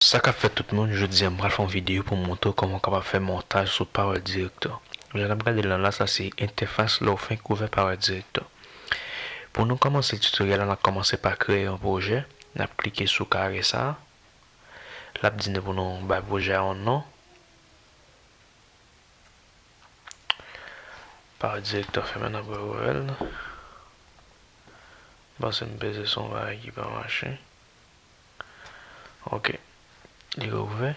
Sa kap fèt tout moun, jodia m pral fè yon video pou m montre w kòman w kapab fè montaj sou Power Director. Jan nap gade l lan la sa se entèfas lè w fenk ouvè Power Director. Pou nou kòmanse tutoriel la nap kòmanse pa kreye yon pwojè, nap klike sou kare sa, lap di nou pou nou bay pwojè a yon non, Power Director fèmen nap re ouvè l, m panse m peze sou yon bagay ki pa mache. Ok li re ouvè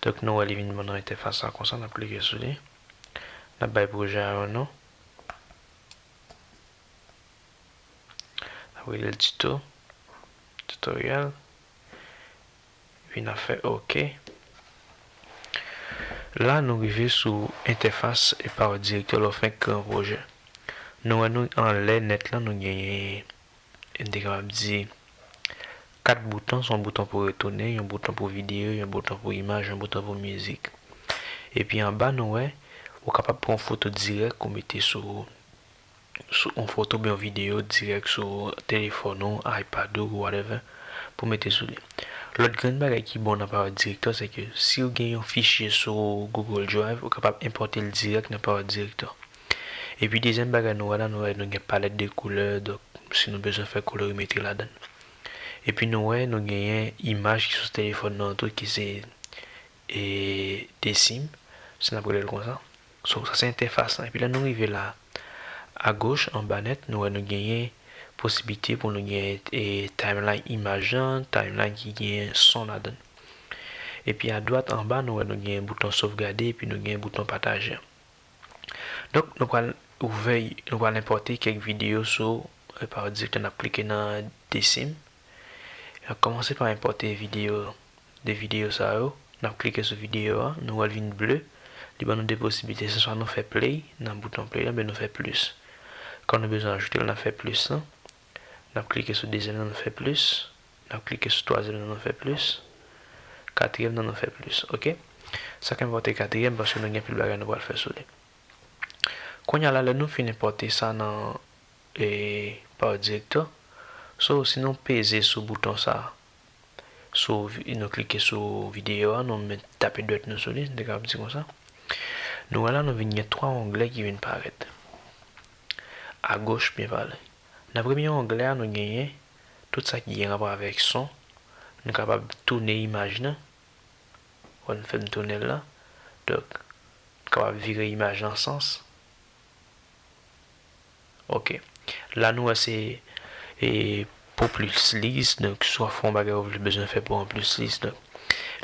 donk nou wè li vin nan entèfas la konsa nap klike sou li nap bay pwojè a yon non nap relel tito tutorial epi nap fè ok la nou rive sou entèfas epaw direktè lè w fenk kre yon pwojè nou wè nou anlè nèt lan nou genyen. e m te kapab di, kat bouton, s on bouton pou retounen, yon bouton pou videyo, yon bouton pou imaj, yon bouton pou mizik. Epi anba nou wè, ou kapab pran yon foto dirèk ou mete sou sou yon foto oubyen yon videyo dirèk sou telefòn ou, ipad ou, whatever, pou mete sou li. Lòt grenn bagay ki bon nan Power Director se ke si ou gen yon fichye sou Google Drive, ou kapab enpòte l dirèk nan Power Director. Epi dezyèm bagay nou wè la nou wè nou gen palèt de koulè donk si nou bezwen fè kolorimetri ladan l. Epi nou wè nou genyen imaj ki sou telefòn nou an tou ki se e desim si n ap rele l konsa. So sa se entèfas lan. Epi lè nou rive la agoch anba nèt nou wè nou genyen posiblite pou nou gen e timeline imaj lan, timeline ki gen son ladan l. Epi adwat anba nou wè nou gen bouton sovgade epi nou gen bouton pataje an. Donk nou pral ouvè nou pral enpòte kèk videyo sou Repaw Direct nap klike nan Desim nap kòmanse pa enpòte videyo 2 videyo sa yo nap klike sou videyo a nou wèl vin ble li ban nou 2 posiblite se swa nou fè play nan bouton play la oubyen nou fè plis kòm nou bezwen ajoutel nap fè plis lan nap klike sou dezyèm nan nou fè plis. N ap klike sou twazyèm nan nou fè plis, katriyèm nan nou fè plis ok. Sa k enpòte katriyèm paske nou gen anpil bagay nou pral fè sou li. Kounye a la lè nou fin enpòte sa nan Power Director, so si nou peze sou bouton sa, sou nou klike sou videyo a nou met tape dwèt nou sou li m te kapab di konsa, nou wè la nou vin gen 3 onglè ki vin parèt agoch byen pale. Nan premye onglè a nou genyen tout sa ki gen rapò avèk son, nou kapab toune imaj nan, wè m fè m tounen l la, donk m kapab vire imaj lan sans, ok, la nou wè se e pou plis lis, donk swa fè yon bagay ou vle bezwen fè pou an plis lis, donk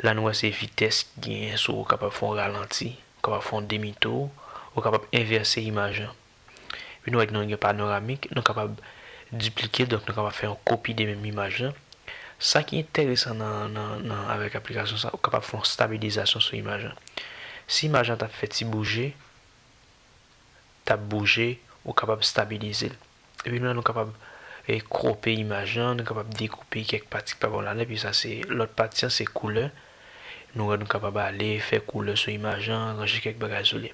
la nou wè se vitès ki genyen sou ou kapab fè yon ralanti, ou kapab fè yon demi tou, ou kapab envèse imaj lan. Epi nou wè gen yon panoramik, nou kapab diplike, donk nou kapab fè yon kopi de menm imaj lan. Sa ki enteresan nan avèk aplikasyon sa, ou kapab fè yon stabilizasyon sou imaj lan. Si imaj lan t ap fè ti bouje, t ap bouje, ou kapab stabilize l. Epi menm nou kapab kwope imaj lan, nou kapab dekoupe kèk pati ki pa bon ladan, epi sa se lòt pati an se koulè. Nou wè nou kapab ale fè koulè sou imaj lan, ranje kèk bagay sou li.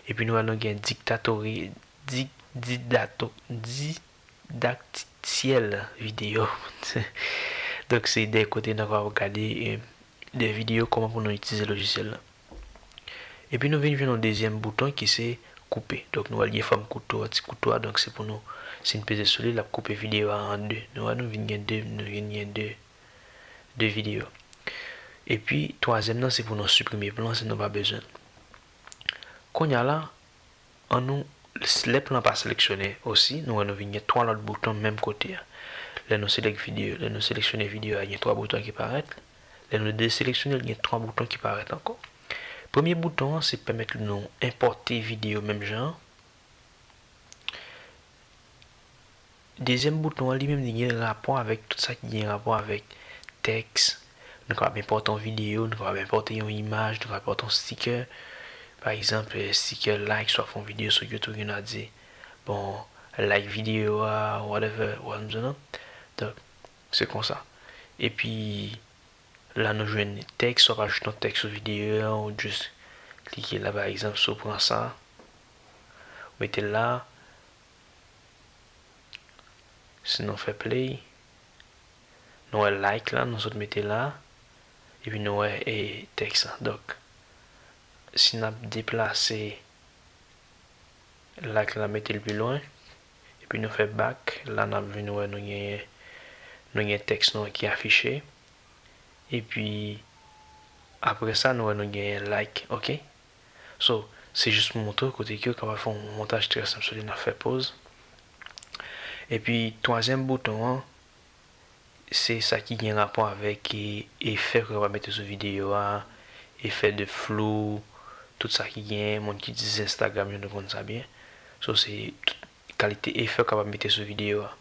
Epi nou wè nou gen diktatori, di, didato, di, daktityèl videyo. Donk se de kote nan va gade de videyo kòman pou nou itilize lojisyèl la. Epi nou vin jwenn yon dezyèm bouton ki se koupe. Donk nou wè li gen fòm kouto a, ti kouto a. Donk se pou nou, si n peze sou li, l ap koupe videyo a an de. Nou wè nou vin gen de, nou vin gen de, de videyo. Epi twazyèm nan se pou nou siprime plan si nou pa bezwen l. Konya la, an nou, lè plan pa seleksyone osi, nou wè nou vin gen 3 lòt bouton menm kote a. Lè nou select video, lè nou seleksyone video a gen 3 bouton ki parèt, lè nou deseleksyone l gen 3 bouton ki parèt ankò. Premye bouton an se pèmèt li nou enpòte video menm jan an. Dezyèm bouton an li menm li gen rapò avèk tout sa ki gen rapò avèk tèks, nou kapab enpòte yon videyo, nou kapab enpòte yon imaj, nou kapab enpòte yon stikè, pa egzanp stikè like swa fè yon videyo sou youtube gen nan di bon like videyo a whatever ou wè sa m di w nan donk se konsa epi la nou jwenn tèks wap ajoute yon tèks sou videyo a ou jis klike la pa egzanp si w pran sa ou mete l la. Si nou fè play, nou wè like la nou sot mete la, epi nou wè e tèks la. Donk, si n ap deplase like la mete l pi lwen, epi nou fè back, la n ap vin wè nou genyen, nou gen tèks nou an ki afiche. Epi, apre sa nou wè nou genyen like, ok. So, se jis pou montre w kote ke w kapab fè yon montaj trè senp sou li nan fè poz. Epi twazyèm bouton an, se sa ki gen rapò avèk efè ke w kapab mete sou videyo a, efè de flou, tout sa ki gen, moun ki itilize Instagram yo nou konn sa byen. So, se tout kalite efè w kapab mete sou videyo a.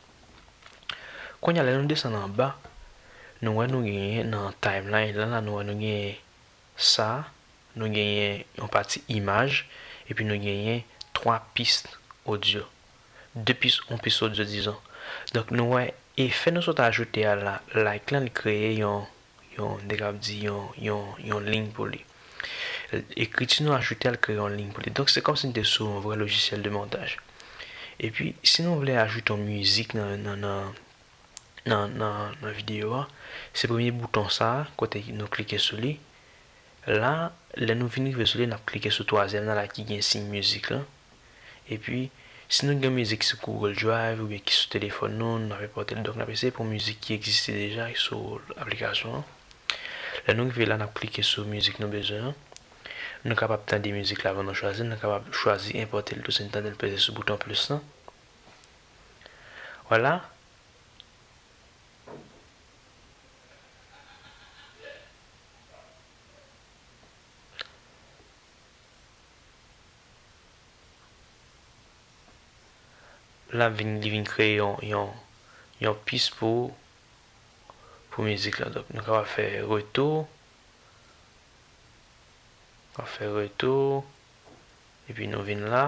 Kounye a lè nou desann anba, nou wè nou genyen nan timeline la, nou wè nou genyen sa, nou genyen yon pati imaj epi nou genyen 3 pist odyo. 2 pis, 1 pis odyo dizon. Donk nou wè efè nou sot ajoute a la, like lan li kreye yon, yon, m te kab di yon, yon, yon lign pou li. Ekriti nou ajoute a li kreye yon lign pou li. Donk se kòmsi n te sou yon vrè lojisyèl de montaj. Epi si nou vle ajoute yon mizik nan, nan, nan. nan video a se premye bouton sa kote nou klike sou li la lè nou vin rive sou li nap klike sou twazyèm nan la ki gen siy mizik lan epi si nou gen mizik sou Google drive oubyen ki sou telefòn nou nou nap enpòte l donk nap eseye pran mizik ki egziste deja ki sou aplikasyon an lè nou rive la nap klike sou mizik nou bezwen an nou kapab tande mizik la avan nou chwazi l nou kapab chwazi enpòte l tou si nou tande l peze sou bouton plis lan. Wala. Lap vin li vin kreye yon yon yon pis pou pou mizik la donk nou kapab fè retou wap fè retou epi nou vin la.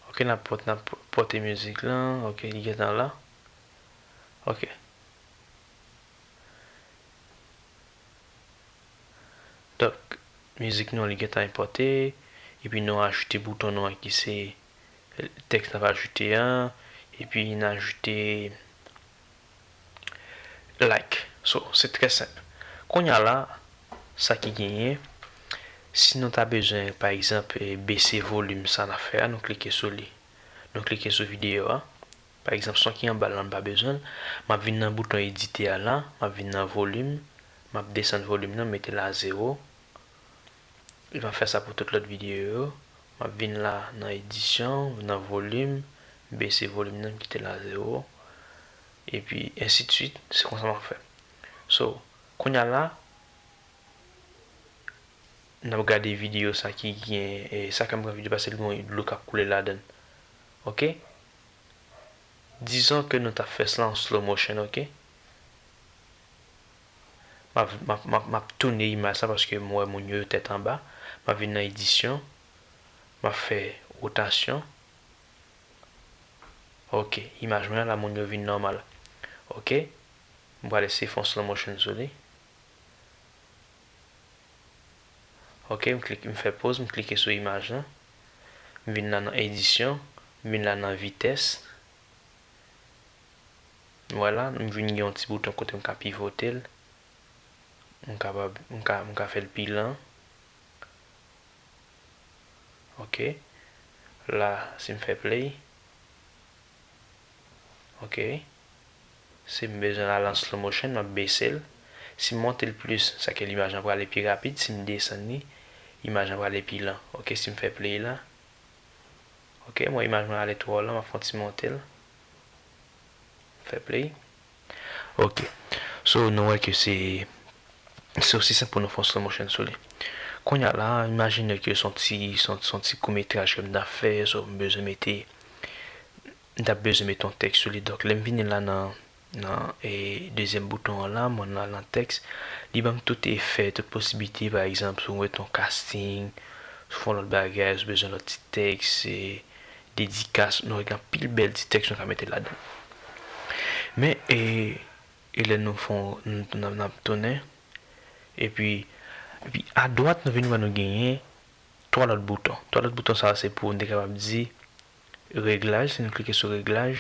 Ok nap pot nap pote mizik la ok li gentan la ok donk mizik nou an li gentan enpòte epi nou ajoute bouton nou an ki se tèks nap ajoute an epi n ajoute like so se trè senp kounya la sa ki genyen si nou ta bezwen pa egzanp bese volume sa nap fè a nou klike sou li nou klike sou video a pa egzanp son ki anbal la mpa bezwenl map vin nan bouton edite a la map vin nan volume map desann volume nan metel a zero Li va fè sa pou tout lòt videyo yo. M ap vin la nan edisyon, nan volim, m bese volim nan, m kite l a zewo. Epi ensi de swit, se konsa m ap fè. So, kounye a la, n ap gade videyo sa ki gen, e sa kè m pran videyo paske li gen yon dlo k ap koule ladan l. Ok. Dizon ke nou ta fè slan an slow motion ok. M ap tounen imaj sa paske m wè moun yo yo tèt anba. M ap vin nan edisyon. M ap fè wotasyon. Ok, imaj mwen an la moun yo vin nòmal. Ok, m pral eseye fè yon slow motion sou li. Ok, m klike, m fè poz, m klike sou imaj lan. M vin la nan edisyon. M vin la nan vitès. Nou wè la, m vin gen yon ti bouton kote m ka pivote l. M kapab, m ka, m ka fè l pi lan. Ok. La, si m fè play. Ok. Si m bezwen l al an slow motion, m ap bese l. Si m monte l plis, sa ke limaj lan prale pi rapid. Si m desann li, imaj lan prale pi lan. Ok, si m fè play la. Ok, m wè imaj mwen ale twò lan, m ap fè yon ti monte l. Fè play. Ok. So nou wè ke se se osi senp pou nou fè yon slow motion sou li. Kounye a la, imajine ke se yon ti se yon se yon ti kou metraj ke m ta fè, so m bezwen mete m ta bezwen mete yon tèks sou li. Donk lè m vini la nan nan e dezyèm bouton an la, mwen al nan tèks, li ban m tout efè, tout posiblite pa egzanp si w mete yon casting, si w fè yon lòt bagay, si w bezwen lòt ti tèks e. dedikas, nou wè gen anpil bèl ti tèks nou ka mete ladan. Men e e lè nou fon nou nap tounen epi epi adwat nou vin wè nou genyen 3 lòt bouton. 3 lòt bouton sa se pou nou te kapab di reglaj, si nou klike sou reglaj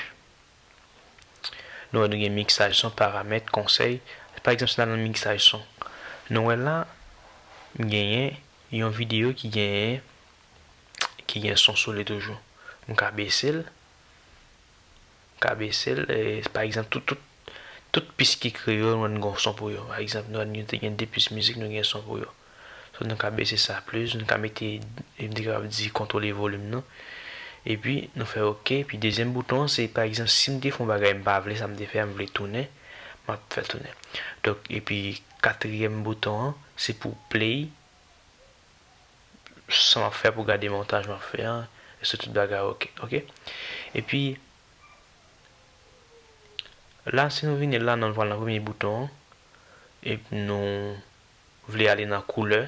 nou wè nou gen miksaj son, paramèt, konsèy. Pa egzanp si nou al nan miksaj son nou wè la m genyen yon videyo ki genyen ki gen son sou li toujou. M ka bese l. M ka bese l. Pa egzanp, tout, tout, tout pis ki kreyòl mwen gen yon son pou yo. Pa egzanp, nou wè nou te gen 2 pis mizik nou gen son pou yo. So nou ka bese sa plis, nou ka mete, m te kapab di kontwole volim nan. Epi nou fè ok. Epi dezyèm bouton an se pa egzanp si m te fè yon bagay m pa vle sa m te fè a m vle tounen, m ap fè l tounen. Donk epi katriyèm bouton an se pou play. Sa map fè pou gade montaj map fè an Eske tout bagay ok ok Epi La si nou vini la nan pral nan premye bouton an Epi nou Vle ale nan koulè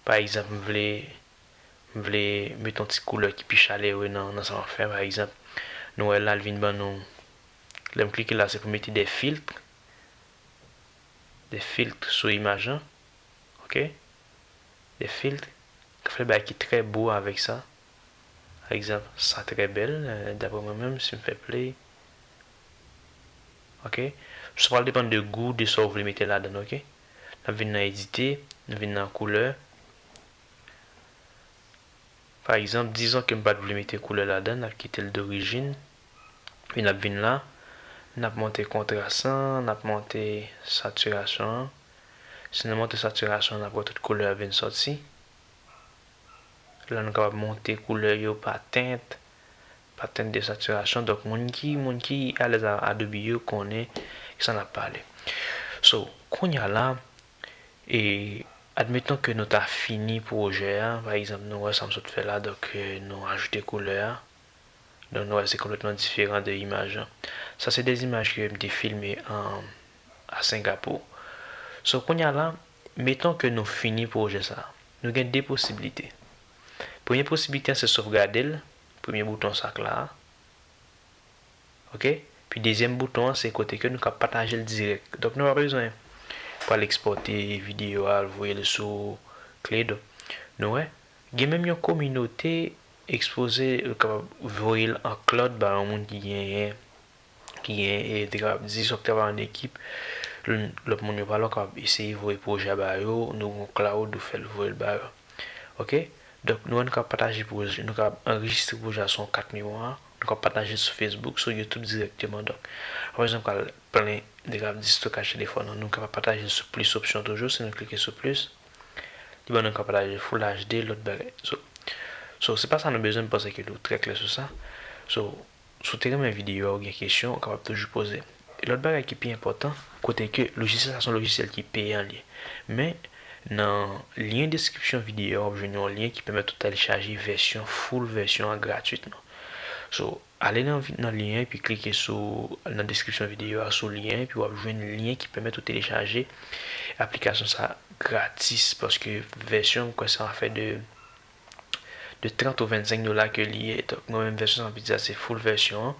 Pa egzanp m vle M vle met yon ti koulè ki pi chalere nan sa map fè pa egzanp Nou wè la li vin ban nou Lèm klike la se pou mete de filtre De filtre sou imaj lan. ok de filtre ka fè bagay ki trè bo avèk sa pa egzanp sa trè bèl daprè mwen menm sim fè play ok sa pral depann de gou de sa ou vle mete ladann ok nap vin nan edite nou vin nan koulè pa egzanp dizon kem pat vle mete koulè ladann nap kitel dorijin epi nap vin la nap monte kontras lan nap monte satirasyon an. Si nou monte satirasyon nap wè tout koulè vin sòti. La nou kapab monte koulè yo pa tint, pa tint de satirasyon donk moun ki moun ki alèz a Adobe yo konnen kisa nap pale. So kounya la e admettons ke nou ta fini pwojè a pa egzanp nou wè sam sot fè la donk nou ajoute koulè a donk nou wè se konplètman diferan de imaj lan. Sa se de imaj ke mte filme an a Singapou. So kounye a la, meton ke nou fini pwojè sa a. Nou gen 2 posibilite. Premye posibilite an se sovgade l, premye bouton sa k la a. Ok. Pi dezyèm bouton an se kote ke nou ka pataje l dirèk. Donk nou pa bezwen pou al ekspòte videyo a, al voye l sou kle do. Nou wè? Gen menm yon kominote ekspoze ou kapab voye l an cloud ba yon moun ki genyen. ki gen te kapab 10 ou ki ta va an ekip, lòt moun yo pa la ou kapab eseye voye pwojè a ba yo, nou gon cloud ou fèl voyel ba yo ok, donk nou menm nou kapab pataje pwoj nou kapab anrejistre pwojè a sou yon kat memwa, nou kapab patajel sou Facebook, sou YouTube dirèkteman donk apre sa nou pral plen nou te kapab di stokaj telefòn an, nou kapab patajel sou plis opsyon toujou si nou klike sou plis li ban nou kapab pataje full HD lòt bagay so so se pa sa nou bezwen m panse ke nou trè klè sou sa so. Si w te renmen videyo a ou gen kesyon ou kapab toujou poze l. Lòt bagay ki pi enpòtan, kote ke lojisyèl sa se yon lojisyèl ki peyan li ye. Men nan lyen deskripsyon videyo a w ap jwenn yon lyen ki pèmèt ou tèlchaje vèsyon full vèsyon an gratwitman. So ale nan nan lyen an epi klike sou nan deskripsyon videyo a sou lyen an epi w ap jwenn lyen ki pèmèt ou telechaje aplikasyon sa gratis paske vèsyon an m kwè sa fè de de 30 ou 25 dola ke li ye donk mwen menm vèsyon san filtre a se full vèsyon an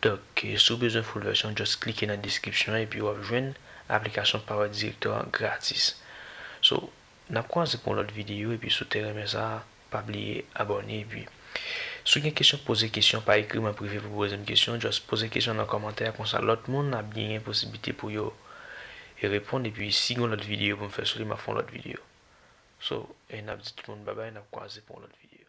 donk si w bezwen full vèsyon just klike nan deskripsyon an epi wap jwenn aplikasyon power director an gratis so nap kwaze pou yon lòt videyo epi si w te renmen sa pa bliye abòne epi si w gen kesyon poze kesyon pa ekri m an prive pou poze m kesyon just poze kesyon nan kòmantè konsa lòt moun ap genyen posiblite pou yo reponn epi si gen yon lòt videyo pou m fè sou li map fè yon lòt videyo. So, nap di tout moun babay nap kwaze pou yon lòt video.